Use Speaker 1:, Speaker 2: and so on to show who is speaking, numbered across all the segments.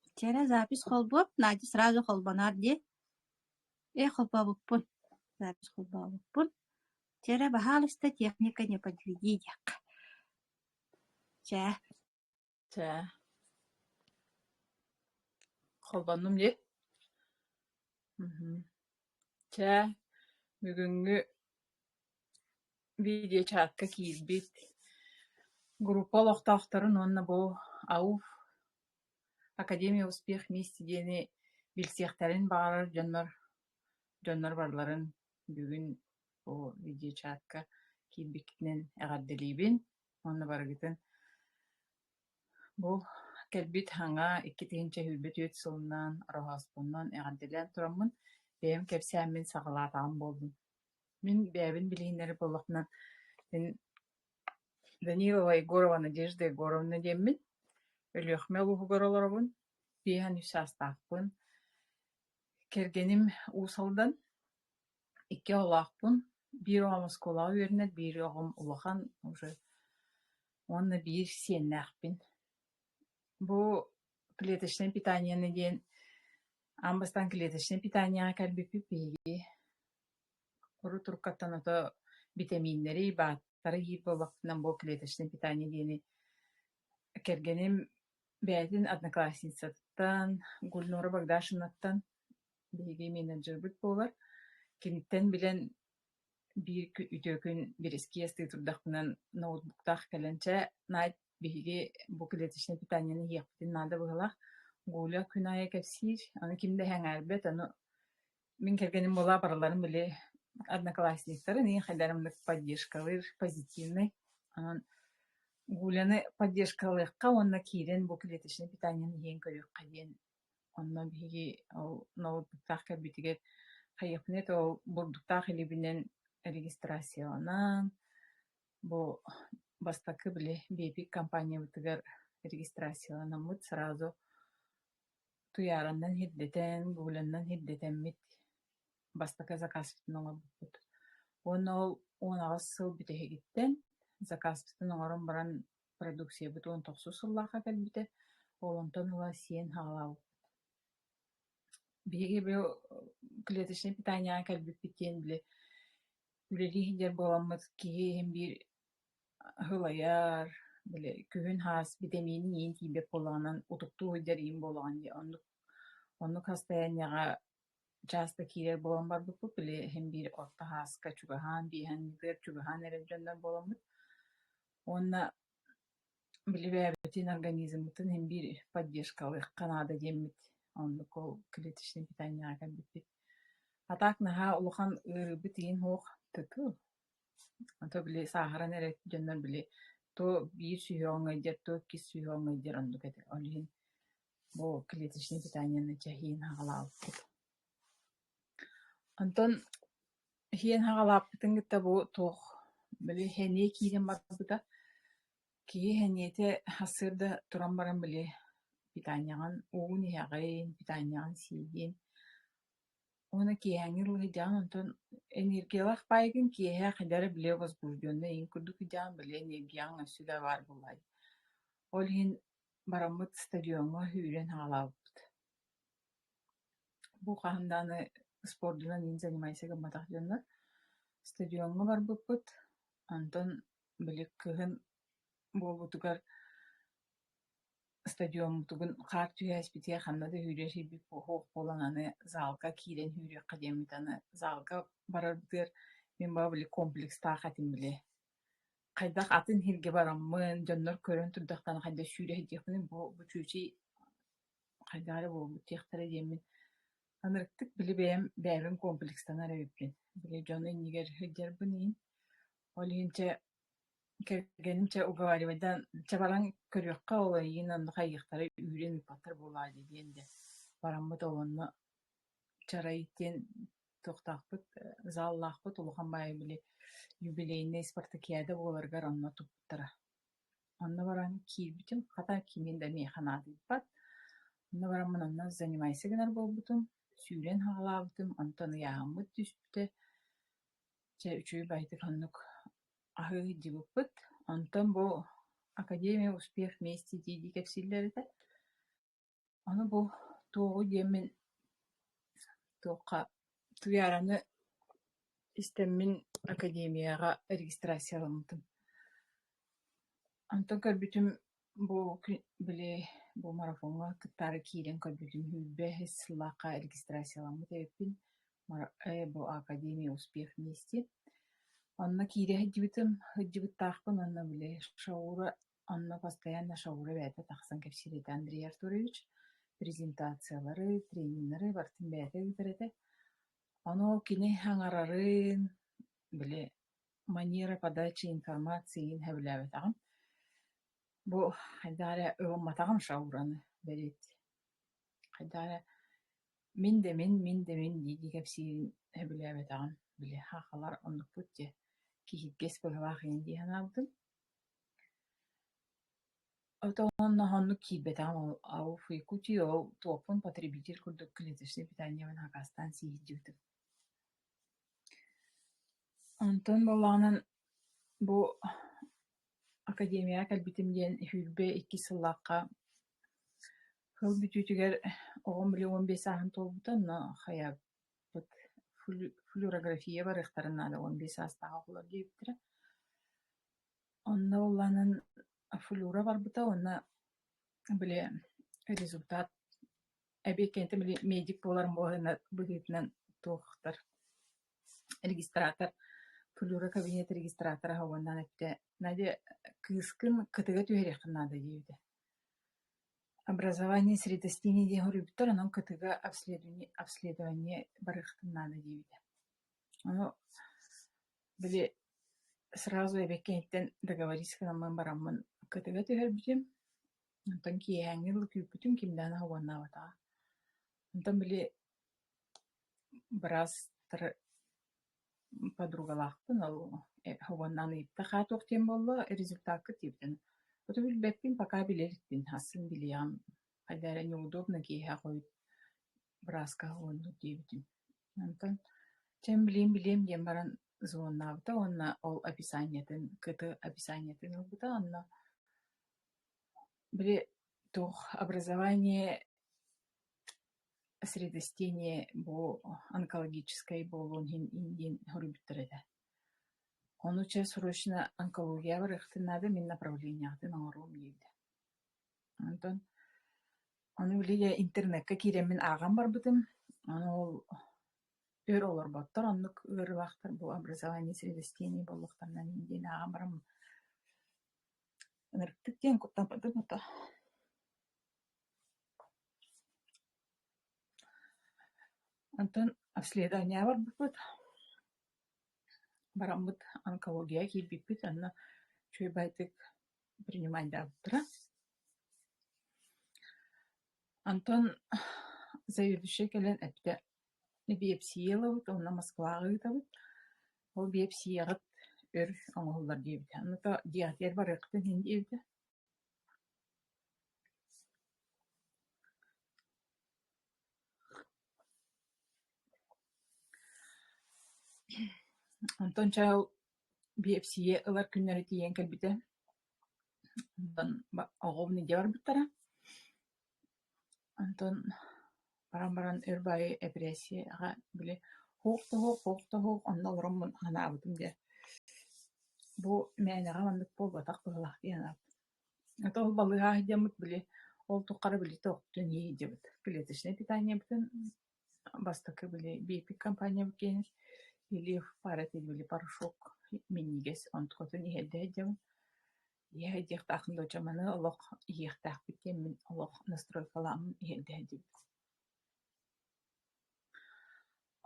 Speaker 1: Вчера запись холбоп, Надя сразу холбонор дии. Э, холбообуппун, запись холбообуппун. Вчера баһаалыста техника не подтвердии диэххэ. Чэ. Чэ.
Speaker 2: Холбоннум дии. Чэ, бүгүҥҥү видеочаакка киирбит группа олохтоохторун уонна бу АУФ Академия успех вместе диэни билсиэхтэрин баҕарар дьоннор дьоннор барыларын бүгүн бу видеочаакка киирбиккитинэн эҕэрдэлиибин уонна барыгытын бу кэлбит саҥа икки тыһыынча сүүрбэ түөрт сылынан роһооспуннан эҕэрдэлээн тураммын бэйэм кэпсээммин саҕалаатаҕым буоллун Мин бэйэбин билиһиннэрэр буоллахпына мин Данилова Егорова Надежда Егоровна диэммин. Өлүөхүмэ улууһугар олоробун. Биэһэн үс саастаахпын. Кэргэним Уус Алдан. Икки оҕолоохпун. Биир оҕом оскуолаҕа үөрэнэр, биир оҕом улахан уже уонна биир сиэннээхпин. Бу клеточное питание диэн Аан бастаан клеточнай питаниеҕа кэлбиппит биһиги урут туркаттан ото битэмииннэри, бааттары иир буолбаппытынан бу клеточнай питание диэни кэргэним бэйэтин одноклассницаттан Гульнора Богдашевнаттан биһиги менеджербыт буолар. Киниттэн билэн биир кү- үтүө күн бирэскиэс тыы турдахпынан ноутбуктаах кэлэн чэ Надь биһиги бу клеточнай питаниены иһиэхпитин наада быһыылаах. Гуля күн аайы кэпсиир, аны ким да эһэҥээрбэт, ону мин кэргэним буолаа барыларын били одноклассниктарын и хайдарымдык поддержкалыыр, позитивный. Онон Гуляны поддержкалыахха уонна киирэн бу клеточнай питаниены иһэн көрүөххэ диэн онно биһиги ол ноутбуктаах кэлбитигэр хайыахпыны это ол бурдуктаах илибинэн регистрацияланан Бу бастакы били бэйэтин компаниябытыгар регистрацияланаммыт сразу туйаараннан ирдэтэн, гуглянан ирдэтэммит бастакы закаспытын оҥорбуппут. Уонна ол он аҕыс сыл бүтэһигиттэн закаспытын оҥорон баран продукциябыт он тохсус сыллаахха кэлбитэ, ол онтон ыла сиэн хаалаабыт. Биһиги бу клеточнай питанияҕа кэлбиппит диэн били Үлэлии сылдьар буоламмыт киһи иһин биир аһы лайар, били күһүн-хаас битэмиинин иин тиийбэт буолаҕынан утуктуу сылдьар иин буолаҕын дии. Оннук оннук хастайынньаҕа чаас да киирэр буолан барбыппыт, били иһин биир орто хааска чугаһаан, биэһэн ыытыгар чугаһаан эрэр дьоннор буоламмыт. Уонна Билибээбитин организммытын иһин биир поддержка ылыахха наада диэммит. Оннук ол клеточнай питаниеҕа кэлбиппит. А так наһаа улахан ыарыыбыт иһин суох туту. Ото били сааһыран эрэ дьоннор били то биир сүһүөҕүҥ ыйдьар, то иккис сүһүөҕүҥ ыйдьар оннук этэ. Ол иһин бу клеточнай питаниены чэһиин аҕалаабыппыт. Онтон Иһиэн хаҕалааппытын кытта бу туох били сэниэ киирэн барбыта. Киһи сэниэтэ сырда туран баран били питаанньаҕын уугун иһэҕин, питаанньаҕын сиигин. Уонна киэһээҥҥи лыһыйдаҕын онтон энергиялаах баайгын киэһэ хайдара билэ возбуждённа иһин курдук ыйдаан били энергияҕын өссө да баар буолаай. Ол иһин бараммыт стадиоҥҥа үүрэн хаҕалаабыппыт. Бу хаһан даҕаны спордунан иин занимайся гымматах дьоннор. Стадиоҥҥа барбыппыт, онтон били кыһын буолбутугар стадиоммутугун хаар түһээспитигэр ханна да үүрүөхсүйбүт суох буолан аны заалга киирэн үүрүөххэ диэммит аны заалга барарбытыгар мин баҕа били комплекстаах этим били. Хайдах атын иһиргэ бараммын, дьоннор көрөн турдахтарына хайдах сүүрэ иһдиэхпиний бу бу чүчү хайдах эрэ буолбуттаахтара диэммин анырыктык били бэйэм бэйэбин комплекстанар эбиппин били дьону иннигэр сылдьарбын иһин ол иһин чэ кэргэним чэ уговаривайдан чабараҥ көрүөххэ ол эйигин онно хайыахтара үүрэн ыыппаттар буоллаа дии диэн дэ бараммыт ол онно чарай диэн туохтаахпыт зааллаахпыт улахан баайа били юбилейнай спартакиада буоларыгар онно туппуттара Онно баран киирбитим, хата кимиин да миэхэ наадыйбат. Онно баран мин онно занимайся гынар буолбутум, сүүрэн саҕалаабытым, онтон ыйааһыммыт түспүтэ. Чэ үчүгэй баҕайытык оннук аһыы ыйдьыбыппыт. Онтон бу академия успех вместе дии-дии кэпсииллэр этэ. Аны бу туоҕу диэммин туохха Туйаараны истэммин академияҕа регистрацияламмытым. Онтон көрбүтүм бу били бу марафоҥҥа кыттаары киирэн көрбүтүм сүүрбэ үһүс сыллаахха регистрацияламмыт эбиппин бу академия успех мести. Онно киирэ сылдьыбытым сылдьыбыттаахпын уонна били Шаура Онно постоянно шоура бэйэтэ тахсан кэпсиир этэ Андрей Артурович, презентациялары, тренеры барытын бэйэтэ ыытар этэ. Ону ол кини аҥарарын, били манера подачи информации иһин сөбүлээбэтэҕим. Бу хайдах эрэ ылымматаҕым шоураны бэриэт. Хайдах эрэ мин да мин, мин да мин дии-дии кэпсиирин сөбүлээбэтэҕим. Били хахалар оннукпут дьэ киһиргэс быһыылаах ини дии санаабытым. Отонун хоһуннук киирбэтэҕим ау Якутии ол туохпун потребитель курдук клеточнай питаниябын акаастаан сииһирдьибитим Онтон буоллаҕынан бу академияҕа кэлбитим диэн сүүрбэ иккис сыллаахха сыл бүтүүтүгэр оҕом били уон биэс сааһын туолбута онно хайа флюорография барыахтарын наада уон биэс саастаах оҕолор диэбиттэрэ онно ыллаанан флюра барбыта уонна били результат эбиэт кэнниттэн били медик буоларым буолаһына быһыытынан туохтар регистратор флюра кабинет регистратора аһа уоннаан эттэ надя кыыскын кытыга түһэриэххин наада диэбитэ Образование средостиний диэн хоруйбуттар, онон кытыыга обследование обследование барыахтын наада диэбитэ. Ону били сразу эбэк киһиттэн договорись гынаммын бараммын кытыга түһэрбитим. Онтон киэһээҥҥи дылы күүппүтүм, кимдээн аһа уоннаабатаҕа. Онтон били быраас тара подругалаахпын ол уонна ыйытта хаа туох диэн буолло результакка тиэрдэн оту билбэппин пока билэрбин асын билиэҕим хайда эрэ неудобно киэһэ хойут бырааска уоннуу диэбитим онтон чэм билиэм билиэм диэн баран звоннаабыта уонна ол описаниетын кыты описаниетын ылбыта онно били туох образование средостение бу онкологическай буолуон иһин ин диэн суруйбуттар этэ ону чэ срочно онкологияҕа барыахтын наада мин направлениеҕытын оҥоруом диэтэ онтон ону билигин интернекка киирэммин ааҕан барбытым ону ол өр олорботтор оннук ыарыылаахтар бу образование средостений буолуохтарынан ин диэн ааҕан бараммын ынырыктык диэн куттаммытым ото Онтон обследование барбыппыт, бараммыт онкология киирбиппит онно үчүгэйдик принимаайдаабыттара. Онтон заведующай кэлэн эттэ биопсия ылабыт уонна Москваҕа ыытабыт, ол биопсияҕыт өр оҥоһуллар диэбитэ, онно диатер барыахтын диэбитэ. Онтон чаал биэпсийэ ылар күннэрэ тиийэн кэлбитэ. Оҕобун илдьэ барбыттара. Онтон баран баран өр баайы эпэрээссийэҕэ били «Һуох да һуох, һуох да һуох, онно олороммун анаабытым» диэн бу мээнэҕэ маннык буолбатах быһыылаах дии санаабытым. Ата ол балыыһа сылдьаммыт били ол туххары били тохтон иһиллибит. Клеточнай питаниябытын бастакы били биопик компаниябыт киэнин Ильев пара этил били порошок минньигэс онтукатын иһэрдэ сылдьабын Иэһэ диэхтаахпын дуо, чэ маны олох иһиэхтээхпит диэн мин олох настройкалааммын иһэн тэһэрдибит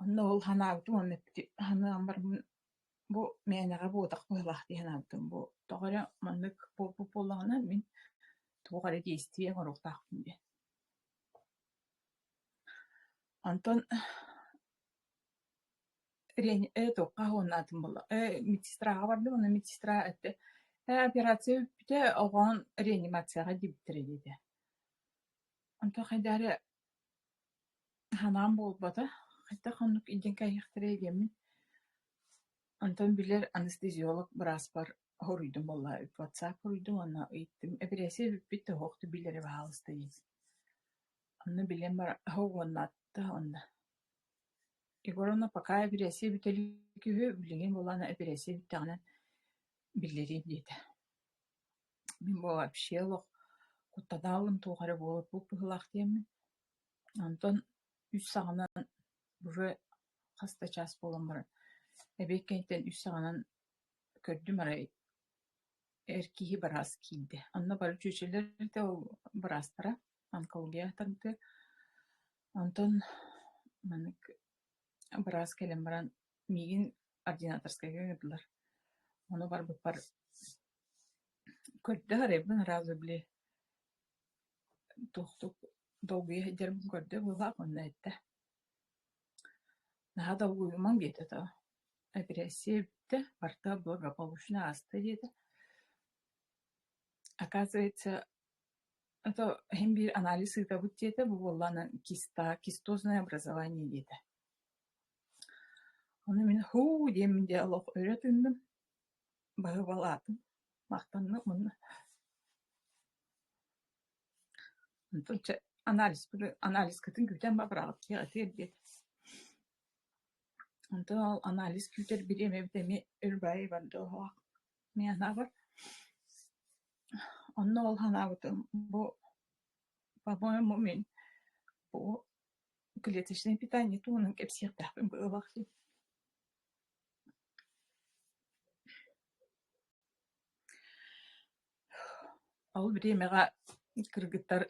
Speaker 2: Онно ол санаабытым уонна санааммарбын бу мээнэҕэ буотах быһыылаах дии санаабытым бу тоҕо эрэ маннык буолбут буоллаҕына мин туох эрэ действие оҥоруохтаахпын диэн Онтон эту хаһыылаатым буолла медсестраҕа бардым уонна медсестра эттэ операция бүппүтэ оҕоҕун реанимацияҕа диэбиттэрэ диэтэ онто хайда эрэ санаам буолбата хайдах оннук илдьэн кэйиэхтэрэй диэммин онтон билэр анестезиолог бырааспар хоруйдум буолла ватсап хоруйдум уонна ыйыттым эпэрээссийэ бүппүт да туох да билэрэ баҕааласта дии онно билэн баран аһы угуннаатта онно Егор ону пока эпэрээссийэ бүтэ илик үһү, билигин буоллаҕына эпэрээссийэ бүттэҕинэ биллэриим диэтэ. Мин бу вообще олох куттатаалым туох эрэ буолбуппут быһыылаах диэммин. Онтон үс саҕанан быһыы хас да чаас буолан баран эбиэт кэнниттэн үс саҕанан көрдүм арай эр киһи быраас киирдэ. Онно бары чүөчэлэр этэ ол быраастара онкология тардыа Онтон маннык быраас кэлэн баран миигин ординаторскайга гыннылар. Ону барбыппар көрдө арыйбын араазы били туохтук долгуйа сылдьарбын көрдө быһаах уонна эттэ: «Наһаа долгуйумаҥ» диэтэ доо, эпирессия эбиттэ, барта благополучно ааста диэтэ. Оказывается Это иһин биир анализ ыытабыт диэтэ бу буоллаҕына киста кистозное образование диэтэ. Ону мин һуу диэммин дии олох өрө тыынным, баһыыбалаатым, махтанным уонна онтон чэ анализпыты анализкытын күүтэн ба быраҕыттыах этиэр диэтэ. Онтон ол анализ күүтэр бириэмэбит эмиэ өр баай барда оһоох Мин санаабар, онно ол санаабытым бу, по-моему, мин бу клеточнай питание туһунан кэпсиэхтээхпин быһыылаах Ол бириэмэҕэ кыргыттар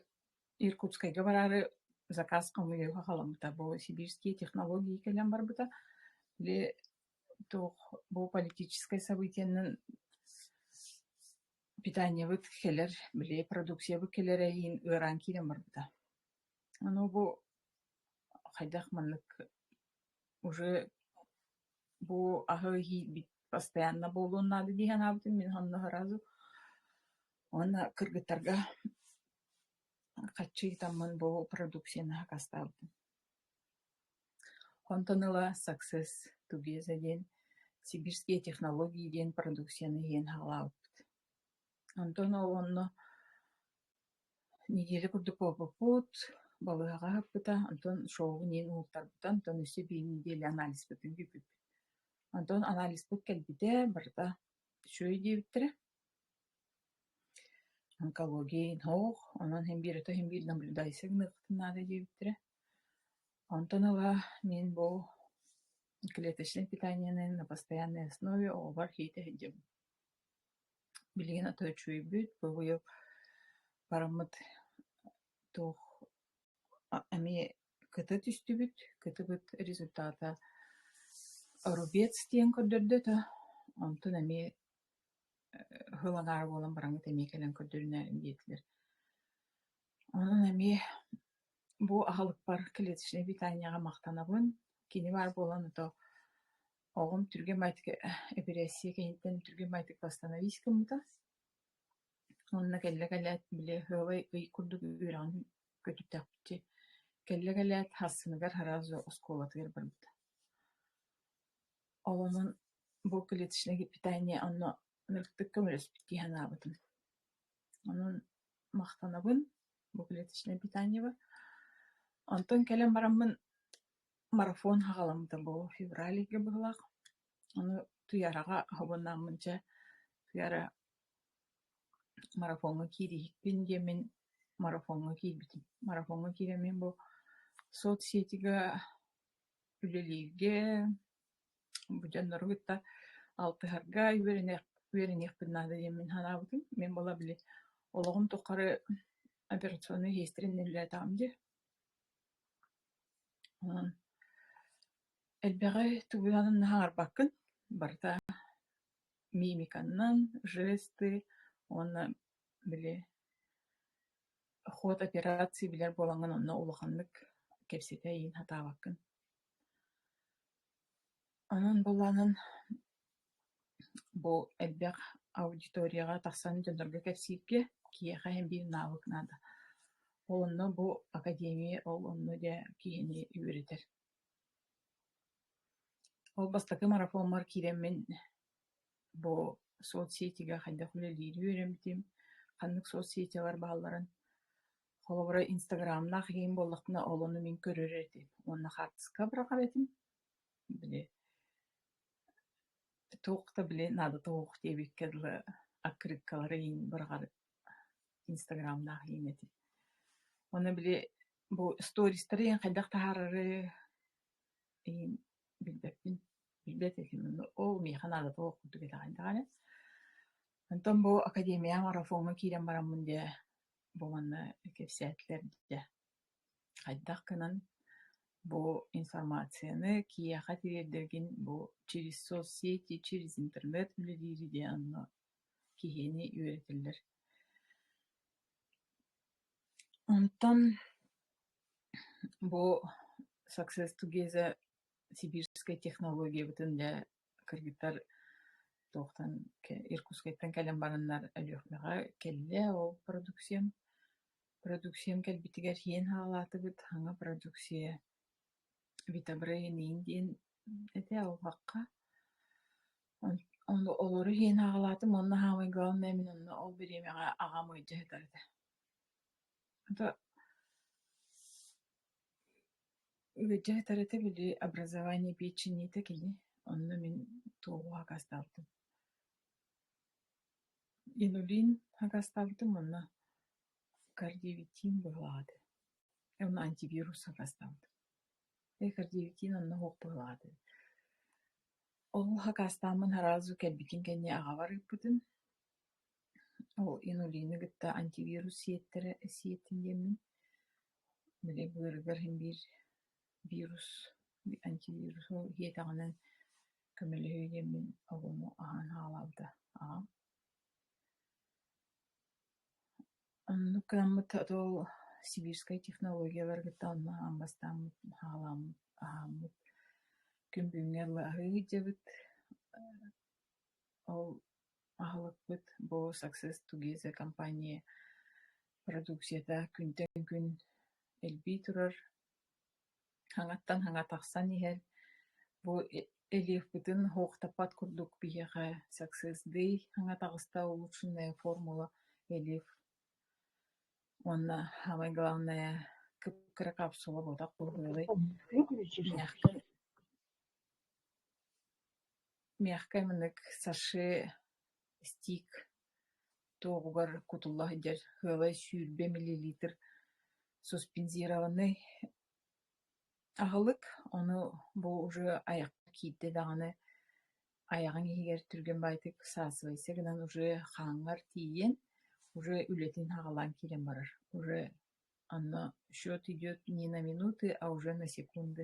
Speaker 2: Иркутскайга бараары заказ хомуйууга халаммыта, бу сибирские технологии кэлэн барбыта. Били туох бу политическай событиенан питаниебыт кэлэр били продукциябыт кэлэр эһиин ыараан киирэн барбыта ону бу хайдах маннык уже бу аһы иһиирбит постоянно буолуон наада дии санаабытым мин онно сразу уонна кыргыттарга хаччы ытаммын бу продукцияны сакастаабытым Онтон ыла «Success Together» диэн сибирские технологии диэн продукцияны иһин аҕалаабыппыт. Онтон онно неделя курдук буолбуппут, балыыһаҕа аһаппыта, онтон шоубун иһин уһуктарбыта, онтон өссө биир неделя анализпытын бүппүт. Онтон анализпыт кэлбитэ, барыта үчүгэй диэбиттэрэ. Онкология иһин оһох, онон иһин биир өтө иһин биир наблюдайся гыныахпытын наада диэбиттэрэ. Онтон ыла мин бу клеточнай питаниены на постоянной основе оҕобор иитэ сылдьабын. Билигин аты үчүгэйбит, быһыйык бараммыт туох эмиэ кыта түстүбүт, кытыбыт результата рубец диэн көрдөрдө да, онтон эмиэ ыһыл аҥаара буолан бараҥҥыт эмиэ кэлэн көрдөрүнээрин диэтилэр. Онон эмиэ Бу аһылыкпар клеточнай питаниеҕа махтанабын. Кини баар буолан ото оҕом түргэн баайытык эпирессия кэнниттэн түргэн баайытык восстановись гыммыта. Уонна кэллэ-кэлээт били ыалай ый курдук үөрэҕин көтүттэхпитэ кэллэ-кэлээт Хассыныгар араас оскуолатыгар барбыта. Оломон бу клеточнай питание онно ырытык көмөлөспүт дии санаабытым. Онон махтанабын. Клеточное питаньево. Онтон кэлэн бараммын марафон саҕаламмыта буолуо февралига быһылаах. Ону Туйараҕа хоһуйнааммын чэ Туйара марафоҥҥа киириэхпин диэмин марафоҥҥа киирбитим. Марафоҥҥа киирэммин бу соцсетигэ үлэлииргэ Бу дьоннору кытта алтыһарга үөрэниэх үөрэниэхпин наада диэн мин санаабытым. Мин буола били олоҕум тухары операционнай иһиэстэрин үлэлэтэҕим дии. Элбэҕи тугунан да хаҥарбаккын. Барыта мимиканнан, жесты уонна били ход операции билэр буолаҥҥын онно улаханнык кэпсэтэ иин сатаабаккын. Онон былаанын бу элбэх аудиторияҕа тахсан дьоннорго кэпсииргэ киһиэхэ биир наабык наада. Ол онно бу академия ол онно дьэ киһини үөрэтэр. Ол бастакы марафоммар киирэн мин бу соцсетигэ хайдах үлэлиирин үөрэммитим, ханнык соцсетиялар баалларын Холобура, инстаграмнаах иһим буоллахпына, ол ону мин көрөр этим уонна хаартыска быраҕар этим. Били туох да били наадата суох диэбиккэ дылы аккырыыккалары иһин быраҕар инстаграмнаах иһим этим. Уонна били бу стористары иһин хайдах таһаарары иһин билбэппин, билбэт этим. Ол миэхэ наадата суох курдук этэҕин даҕаны. Онтон бу академия марафоҥҥа киирэн бараммын дии Бу манна кэпсээтилэр дии, хайдах гынан бу информацияны киһиэхэ тириэрдэргин бу через соцсети, через интернет үлэлиири диэн онно киһини үөрэтэллэр. Онтон бу Success Together сибирскай технологиябытын дьэ Кыргыттар туохтан Иркутскайтан кэлэн бараннар Өлүөхүмэҕэ кэллэ ол продукциям. Продукциям кэлбитигэр иһиэн хаалаатыбыт аҥа продукция витобрение диэн этэ албакка. Олору иһиэн хаалаатым уонна саамай главное мин онно ол бириэмэҕэ аҕам ыалдьа сытар этэ. Бүддьээтэр этэ били образование пиэччиниитэ кини, онно мин туоһу акаастаабытым. Инулин акаастаабытым уонна кардиовитиин быһылаах этэ. Уонна антивирус акаастаабытым. Э кардиовитиин онно суох быһылаах этэ. Ол акаастааммын сразу кэлбитин кэннэ аҕабар ыыппытым. Ол инулины кытта антивирус сиэттэрэ сиэттим диэммин Били быарыгар иһин биир вирус, антивирус ол иһиэтэҕинэ көмөлөһүө диэн мин огуну аһаан аҕалаабыта аҕам. Оннук гынаммыт ол сибирскай технологиялары кытта онно аһаан бастааммыт аһаалааммыт аһааммыт күн бүгүҥҥэ ылы аһыы ыдьабыт ол Аһылыкпыт бу Success Together компания продукцията күнтэн күн элбии турар, хаҥаттан хаҥа тахсан иһэр. Бу элиэхпитин оһуохтаппат курдук биһиэхэ Success-дый хаҥа таҕыста улучшенная формула элиэf уонна самай главное кыра капсула буотах буолуоҕай. Миэхэ мындык саши, стик туоһугар кутулла сылдьар сыалай сүүрбэ миллилитр суспензированный аһылык. Ону бу уже айахха киирдэ даҕаны айаҕыҥ иһигэр түргэн баайтык саасыбайса гынан уже хааҥҥар тиийэн уже үлэтин саҕалаан киирэн барар. Уже онно счет идет не на минуты, а уже на секунды.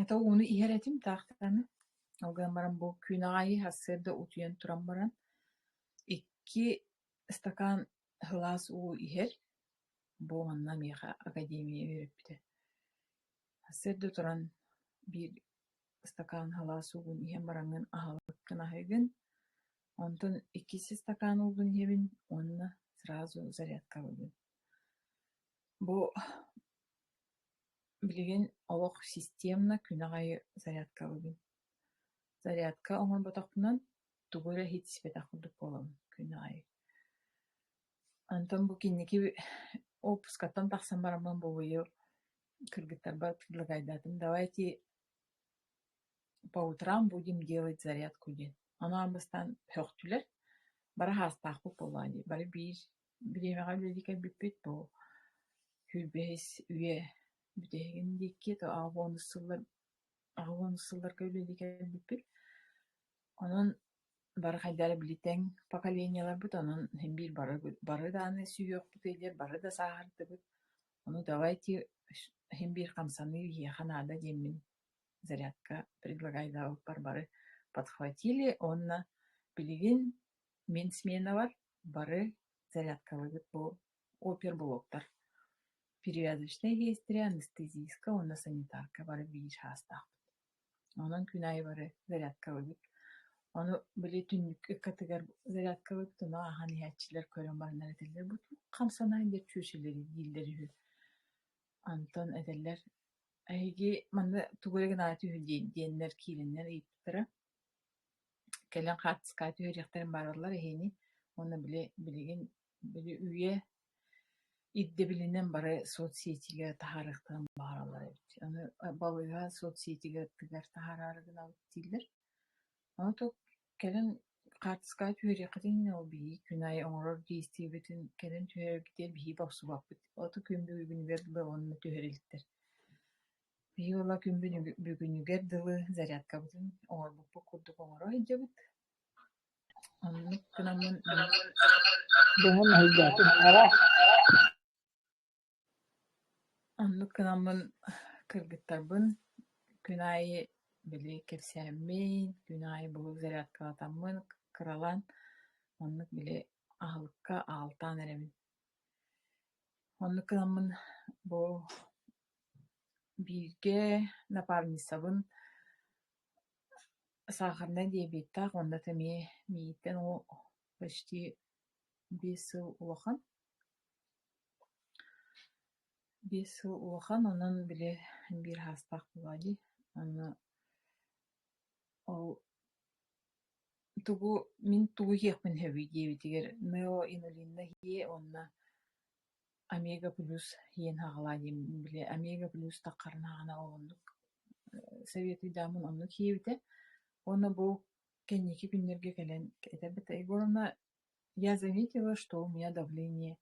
Speaker 2: Ата ууну иһэр этим таахтаны, ол гынан баран бу күн аайы сарсыарда утуйан туран баран икки ыстакаан һылаас уу иһэр, бу манна миэхэ академия үөрэппитэ. Сарсыарда туран биир ыстакаан һылаас уугун иһэн бараҥҥын аһаабыккын аһыгын, онтон иккис ыстакаан уугун иһэбин уонна сразу зарядка ылыгын. Бу Билигин олох системно күнэх аайы зарядкалыыбын. Зарядка оҥорботохпуна тугу эрэ иһитиспэтэх курдук буолабын күнэх аайы. Онтон бу кэнники уоппускаттан тахсан бараммын бугуйу кыргыттарбар предлагайдаатым: давайте по утрам будем делать зарядку диэн. Анаан бастаан сөхтүлэр, бары саастаахпыт буоллаҕа дии, бары биир Бириэмэҕэ үлэлии кэлбиппит бу сүүрбэһис үйэ бүтэһигин диэки то аҕа бонус сыллар аҕа бонус сылларга үлэлии кэлбиппит. Онон бары хайдах эрэ били тэҥ поколениеларбыт онон биир бары бары даҕаны сүһүөхпут идиэр бары да сааһырдыбыт. Ону давайте иһин биир хамсаныы иһиэхэ наада диэммин зарядка предлагайдаабыппар бары подхватили уонна билигин мин сменабар Бары зарядкалыгыт бу оперблоктар перевязочнай иэстэрэ, анестезийка уонна санитарка бары биир саастаахпыт. Онон күн аайы бары зарядкалыгыт. Ону били түннүк ыккатыгар зарядкалыгыт, ону ааһан иһээччилэр көрөн бараннар этэллэр, «Бу туох хамсанай?» диэт чүөчэлэри дииллэр үһү. Онтон этэллэр, «Эһиги манна тугу эрэ гынаары түһү» диэн диэннэр киирэннэр ыйыппыттара. кэлэн хаартыскааты үөриэхтэрин баараллар иһини уонна били билигин били үйэ ирдэбилинэн бары соцсетигэ таһаарыахтарын баҕараллар эбит аны балыыһа соцсетигэ аттыгар таһаараары гынабыт дииллэр аны то кэлэн хаартыскааты үөриэххитин иннинэ ол биһиги күн аайы оҥорор действиебитин кэлэн түһэрэргитигэр биһиги бопсубаппыт ото күн бүгүгүнүгэр дылы онно түһэр иликтэр Биир ыла күн бүгүнүгэр дылы зарядкабытын оҥорбуппут курдук оҥоро сылдьабыт. Оннук гынаммын
Speaker 3: быһан өйдөөтүм эбэ
Speaker 2: оннук гынаммын кыргыттарбын күн аайы били кэпсээммин, күн аайы буһук зарядкалатаммын кыралаан оннук били аһылыкка аалтаан эрэмин. Оннук гынаммын бу Бииргэ напарницабын саахарнай диабеттаах уонна да эмиэ миигиттэн о почти биэс сыл улахан. Биэс сыл улахан онон били биир саастаах буолуо дии. Онно ол тугу мин тугу иһиэхпин сөбүй диэбитигэр неоинулинно иһиэ уонна Омега-плюс иэн аҕалаан иһим били Омега-плюс таххарынааҕына ол оннук советыйдааммын оннук иһиэбитэ уонна бу кэнники күннэргэ кэлэн этэрбит Егоровна я заметила что у меня давление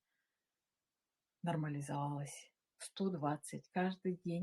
Speaker 2: нормализовалось сто двадцать каждый день